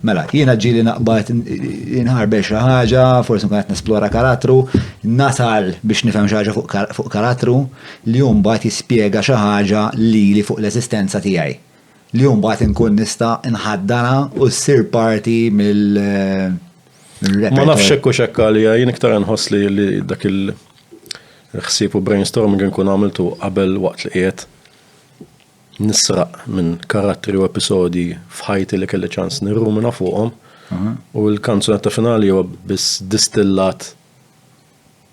Mela, jiena ġieli naqbad inħarbex xi ħaġa, forsi nkun qed nesplora karattru, nasal biex nifhem xi ħaġa fuq karattru li hu mbagħad jispjega xi ħaġa lili fuq l-eżistenza tiegħi. Li hu mbagħad inkun nista' nħaddanha u ssir parti mill-repertorju. Ma nafx hekk hux hekk għalija, jien iktar nħoss li dak il-ħsieb u brainstorming nkun għamiltu qabel waqt li qiegħed. Nisraq minn karattri u episodji f'ħajti li kelli ċans nirrumina fuqhom u l-kanzunetta finali huwa biss distillat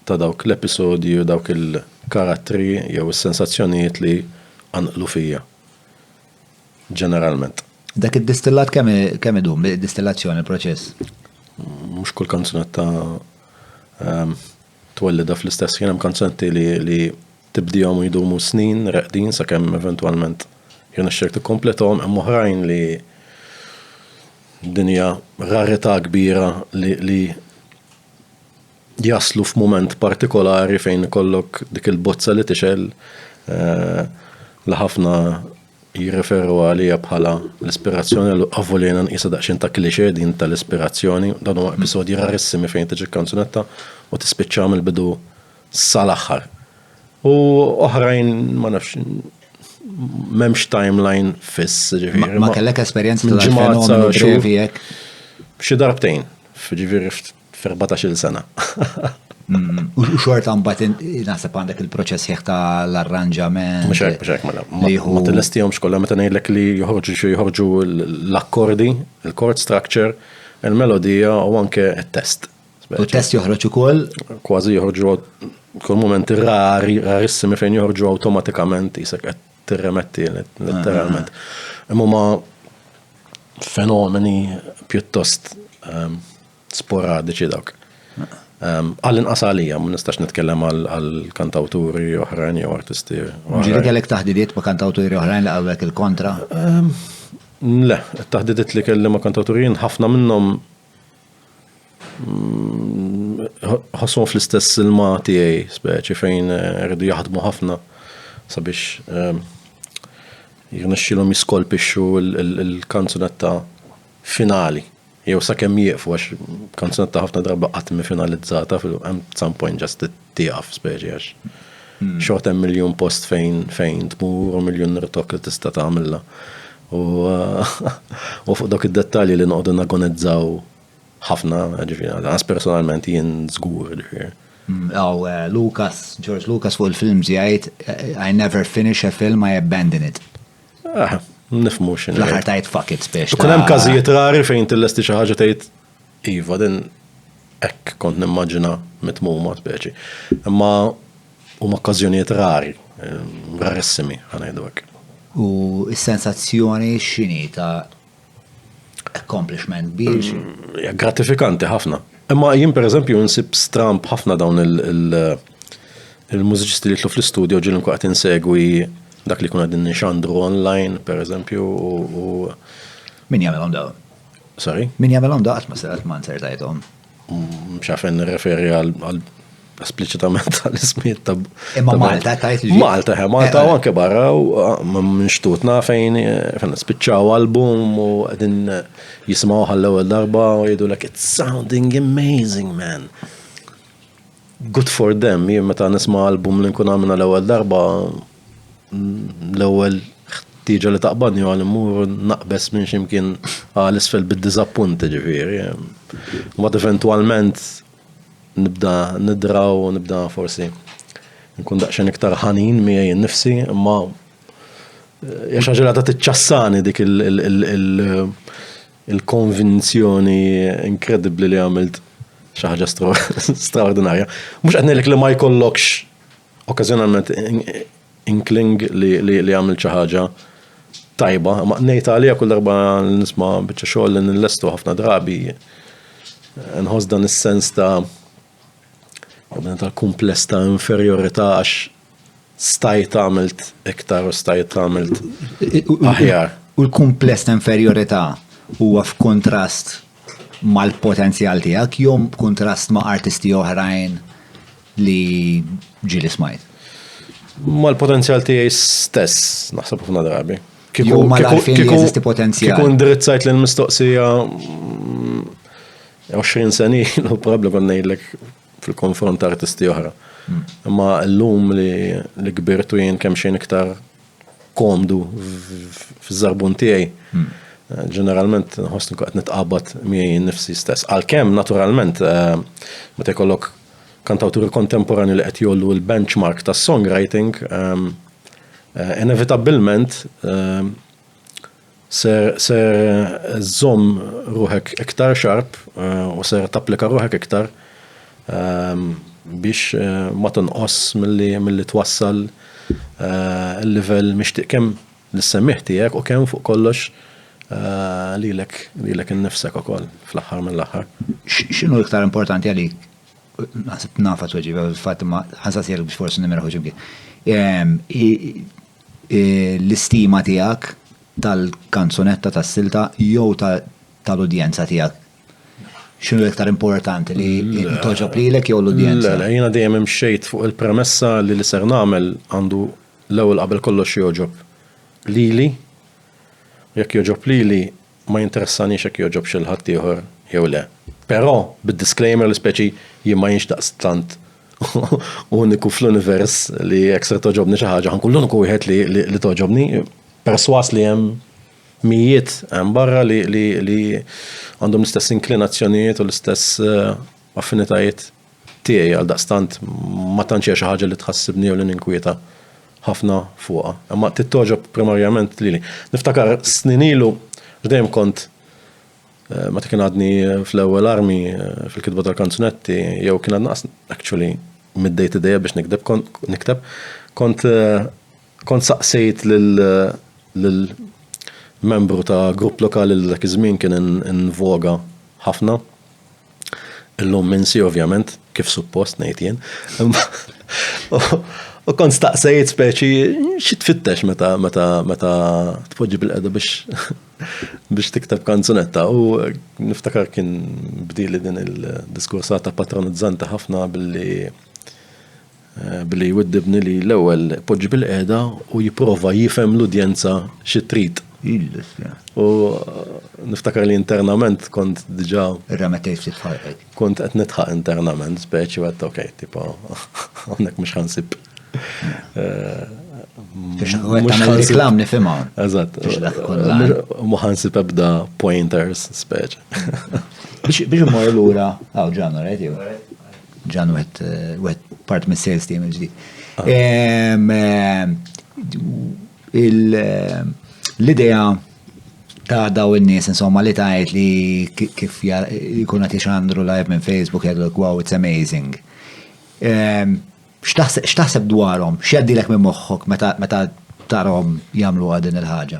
ta' dawk l-episodji u dawk il-karattri jew is-sensazzjonijiet li qanqlu fija. Ġeneralment. Dak id-distillat kemm kemm idum id-distillazzjoni il-proċess? Mhux kull kanzunetta ehm, twellida fl-istess jien hemm kanzunetti li Tibdihom u jdumu snin reqdin sakemm eventwalment jirnexxilek tikkomplethom, hemm oħrajn li din hija rarità kbira li, li jaslu f'mument partikolari fejn ikollok dik il-bozza li tixgħel eh, li ħafna jirreferu għalija bħala l-ispirazzjoni l għavulina nqisa daqxin ta' klixe din tal-ispirazzjoni, dan huwa episodji rarissimi fejn tiġi kanzunetta u tispiċċa mill-bidu sal-aħħar. U oħrajn ma nafx m'hemmx timeline fiss, ġifieri. Ma kellek esperjenza ta' ġimgħa xevi hekk. Xi darbtejn, ġifieri f'14-il sena. Mm, u xorta mbagħad naħseb għandek il-proċess ħieħ ta' l-arranġament. Mhux hekk, mhux hekk mela. Ma tilestihomx kollha meta ngħidlek li joħorġu xi joħorġu l-akkordi, il-chord structure, il-melodija u anke t-test. U test joħroġ ukoll? Kważi joħorġu kull momenti rari, rarissimi fejn joħorġu awtomatikament jisek qed tirremetti letteralment. Ah. Imma ma fenomeni pjuttost ehm, sporadiċi dawk. Ehm, għallin qasalija, ma nistax nitkellem għal kantawturi oħrajn jew artisti. Ġiri kellek taħdidiet ma kantawturi oħrajn li għawek il-kontra? Ehm, le, taħdidiet li kelli ma kantawturin ħafna minnhom ħassom fl-istess ilma tiegħi speċi fejn eh, rridu jaħdmu ħafna sabiex eh, jirnexxilhom jiskolpixxu l-kanzunetta finali. Jew sakemm jieqfu għax kanzunetta ħafna darba qatt finalizzata fil-hemm some point just it tieqaf speċi għax. Hmm. Xort hemm miljun post fejn fejn tmur u miljun nirtok li tista' tagħmilha. U u fuq dok id-dettalji li noqogħdu nagonizzaw ħafna, ġifieri, għas personalment jien żgur, ġifieri. Hmm. Aw, eh, Lucas, George Lucas fuq il-film ġijajt, eh, I never finish a film, I abandon it. Ah, nifmu xin. L-ħar tajt fuck it, spiex. Kun hemm każijiet rari fejn tillesti xi ħaġa tgħid Iva, din hekk kont nimmaġina mitmuma speċi. Imma huma okkażjonijiet rari, rarissimi, ħanajdu hekk. U s-sensazzjoni x'inhi ta' accomplishment kbir? Mm, gratifikanti ħafna. Imma jien pereżempju nsib stramp ħafna dawn il-mużiċisti li jitlu fl-istudio ġil nkun qed insegwi dak li kuna din nixandru online, pereżempju, u. Min jagħmel dawn? Sorry? Min jagħmelhom daqs ma serat ma nsertajthom. Mm, Xafen referi għal esplicitament għal-ismiet ta' Imma Malta ta' jitġi. Malta, eh, Malta eh, u eh. anke barra u ah, minn xtutna fejn fejn spiċċaw album u għedin jismaw għall-ewwel darba u jgħidu like it's sounding amazing man. Good for them, jien meta nisma' album li nkun għamilna l-ewwel darba, l-ewwel ħtieġa li taqbadni huwa li mmur naqbeż minn x'imkien għal isfel bid-diżappunt ġifieri. Mbagħad eventwalment nibda nidra u nibda forsi nkun daqsxejn iktar ħanin miegħi nnifsi, imma hija xi ħaġa li għadha tiċċassani dik il- il-konvinzjoni inkredibbli li għamilt xi ħaġa straordinarja. Mhux qed ngħidlek li ma jkollokx okkażjonalment inkling li għamilt xi ħaġa tajba, ma ngħid għalija kull darba nisma' biċċa xogħol li nillestu ħafna drabi nħoss dan is-sens ta' tal-kumpless ta' inferjorità għax stajt għamilt iktar u stajt għamilt aħjar. U l-kumpless ta' inferjorità huwa f'kuntrast mal-potenzjal tiegħek jew b'kuntrast ma' artisti oħrajn li ġieli smajt? Mal-potenzjal tiegħi stess, naħseb ħafna drabi. Kieku ma l-għarfien li jeżisti potenzjal. Kieku ndirizzajt l-mistoqsija 20 mm, senilu, probabli kon ngħidlek fil-konfront ta' artisti oħra. Imma l-lum li kbirtu jien kemm xejn iktar komdu f'żarbun tiegħi. Hmm. Eh, ġeneralment nħoss li qed nitqabad miegħi nifsi stess. Għalkemm naturalment eh, meta jkollok kantawturi kontemporani li qed jollu l-benchmark tas songwriting, ehm, eh, inevitabbilment ehm, Ser ser żżomm ruħek iktar xarb u ser tapplika ruħek iktar biex ma tonqos milli milli twassal il-livell mixtieq kemm lis-semmiegħ tiegħek u kemm fuq kollox lilek lilek innifsek ukoll fl-aħħar mill-aħħar. X'inhu iktar importanti għalik, naħseb nafha tweġiba fil-fatt imma ħansaqsielek biex forsi nimiraw xi mkien, hi l-istima tiegħek tal-kanzunetta, tas-silta jew tal-udjenza tiegħek? X'inhu l-iktar importanti li mm. toġob lilek jew l-udjenza? Le, jiena dejjem imxejt fuq il-premessa li li ser nagħmel għandu l-ewwel qabel kollox joġob lili. Jekk joġob lili Ma jinteressanix jekk jogħġobx lil ħaddieħor jew le. Però, bid-disclaimer li speċi jien ma jienx daqstant uniku fl-univers li jekk ser togħġobni xi ħaġa ħa nkun l-uniku wieħed li togħġobni, persważ li hemm mijiet hemm barra li għandhom l-istess inklinazzjonijiet u l-istess affinitajiet. Tiegħi, għaldaqstant, ma tantx hija xi ħaġa li tħassibni jew li ninkwieta ħafna fuqha. Imma trid togħġob primarjament lili. Niftakar snin ilu, għax dejjem kont eh, meta kien għadni eh, fl-ewwel armi eh, fil-kitba tal-kanzunetti, jew kien għadna actually mid-day to day biex nikdeb, nikteb, kont Kont saqsejt lil membru ta' grupp lokali li dak iż-żmien kien in voga ħafna, illum minsi ovvjament, kif suppost ngħid jien, u kont staqsejt speċi xi tfittex meta tpoġġi bil-qiegħda biex tikteb kanzunetta u niftakar kien bdieli din il-diskursata patronizzanti ħafna billi, Billy jwiddibni li l-ewwel ipoġġi bilqiegħda u jipprova jifhem l-udjenza xi trid. U niftakar li internament kont diġà. Irremettejt ftit f'ħalqek. Kont qed nidħaq internament speċi u għedt okej, tipo hawnhekk mhux ħa nsib. Biex nagħmel reklam nifhimha. Eżatt. Mhux ħa nsib ebda pointers speċi. Biex immur lura, hawn ġanna, rajt jew. Ġan wet part mis sales team il-ġdid. L-idea ta' daw in-nies insomma li tajt li kif jkun qed jixandru live minn Facebook jgħidlek wow it's amazing. X'taħseb dwarhom? X'jgħaddilek minn moħħok meta tarhom jagħmlu din il-ħaġa?